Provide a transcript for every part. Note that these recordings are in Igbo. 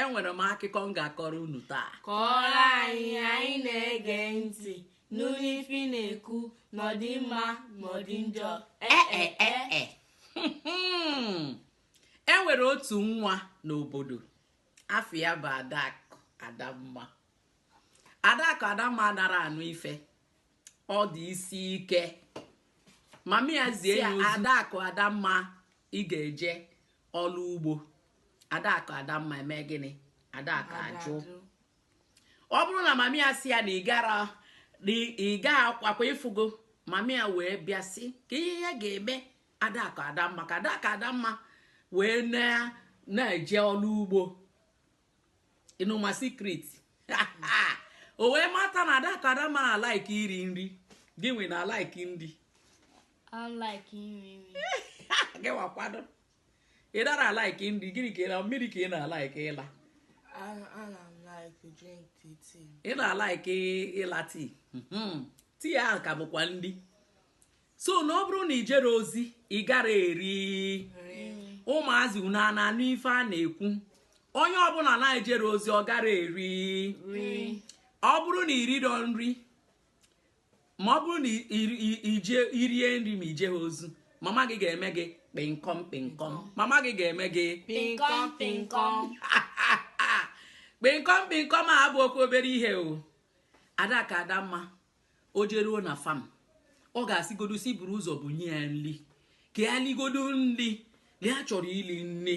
enwere m akụkọ m ga-akọrọ unu taa kọọrọ anyị anyị na-ege ntị nụ ife na-ekwu n'ọdị mma n'ọdị njọ ee e, e, e, enwere otu nwa n'obodo afa ya bụ adakụ adamma adakụ adamma anara anụ ife ọ dị isi ike mama ya zie ya adakụ adamma ị ga-eje ọlụ ugbo adakụ adamma eme gịnị adakụ ajụ ọ bụrụ na mami ya sị ya na ị ga-akwa akwa ị fụgo mami ya wee bịa sị kee ihe ya ga-eme adakụ adamma ka adakụ adamma wee na-eje ọlụ ugbo unu ma secret o wee mata na adakụ adamma na-alike iri nri gị nwa na-alike nri gịwakwado ị dara alike nri gịnị ka ị mmiri ka ị na-alike ịla ị na-alike ịla tea hmm. tea ahụ ka bụkwa nri so na ọ bụrụ na i jero ozi ị gara eri ụmụazị unu a na-anụ ife a na-ekwu onye ọbụna na-ejero ozi ọ gara eri ọ bụrụ na i riro nri ma ọ bụrụ na i rie nri ma i jeha ozi mama gị ga-eme gị kpịnkọm kpịnkọm mama gị ga-eme gị kpịnkọm kpịnkọm kpịnkọm kpịnkọm abụhọkwụ obere ihe o adakụ adamma o jeruo na farm ọ ga-asịgodu sị buru ụzọ bunye ya nri ka ya ligodu nri na ya chọrọ ili nri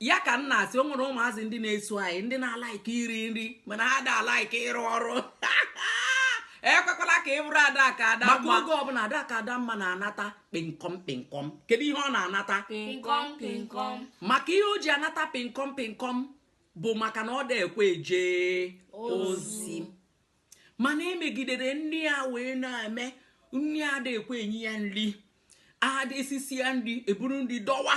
ya ka m na-asị o nwere ụmụazị ndị na-eso anyị ndị na-alike iri nri mana ha ada alike ịrụ ọrụ ekwekwala ka ị bụrụ adakụ adamma maka oge ọbụna adakụ adamma na-anata kpịnkọm kpịnkọm kedu ihe ọ na-anata maka ihe o ji anata kpịnkọm kpịnkọm bụ maka na ọ da ekwe eje ozi mana e megidere nne ya wee na-eme nri ada ekwe enye ya nri ada esisi ya nri eburu nri dowe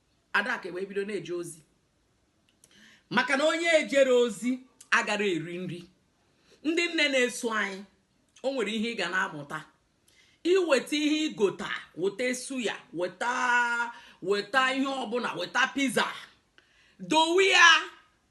adakụ wee bido na-eje ozi maka na onye ejero ozi agara eri nri ndị nne na-eso anyị o nwere ihe ị ga na-amụta i weta ihe i gota weta suya weta weta ihe ọbụna weta pizza dowe ya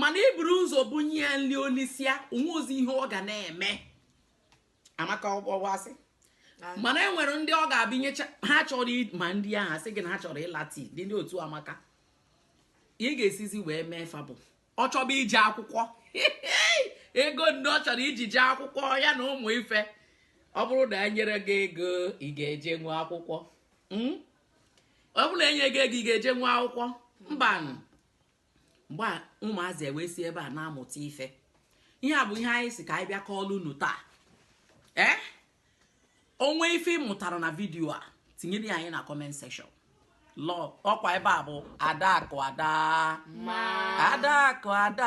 mana i buru ụzọ bunye ya nri o lisịa o nwehozi ihe ọ ga na-eme amaka ọ bụ asị mana e nwere ndị ọ ga-abụ i nyecha ha chọrọ ma ndị ahụ sị gị na ha chọrọ ịla tea dị ndị otu amaka ị ga-esizi wee mee fa bụ ọ chọba ije akwụkwọ ego ndị ọ chọrọ iji jee akwụkwọ ya na ụmụ ife ọ bụrụ na enyero gị ego ị ga-ejenwu akwụkwọ hmm? ọ bụrụ na enye gị ego ị ga-ejenwu akwụkwọ mbanụ mgbe a ụmụazị ewee si ebe a na-amụta ife ihe a bụ ihe anyị sị ka anyị bịa kọọlụ unu taa ee o nwee ife ị mụtara na video a tinyere ya anyị na comment section lọ ọkwa ebe a bụ Adakụ Adamma. Adakụ ada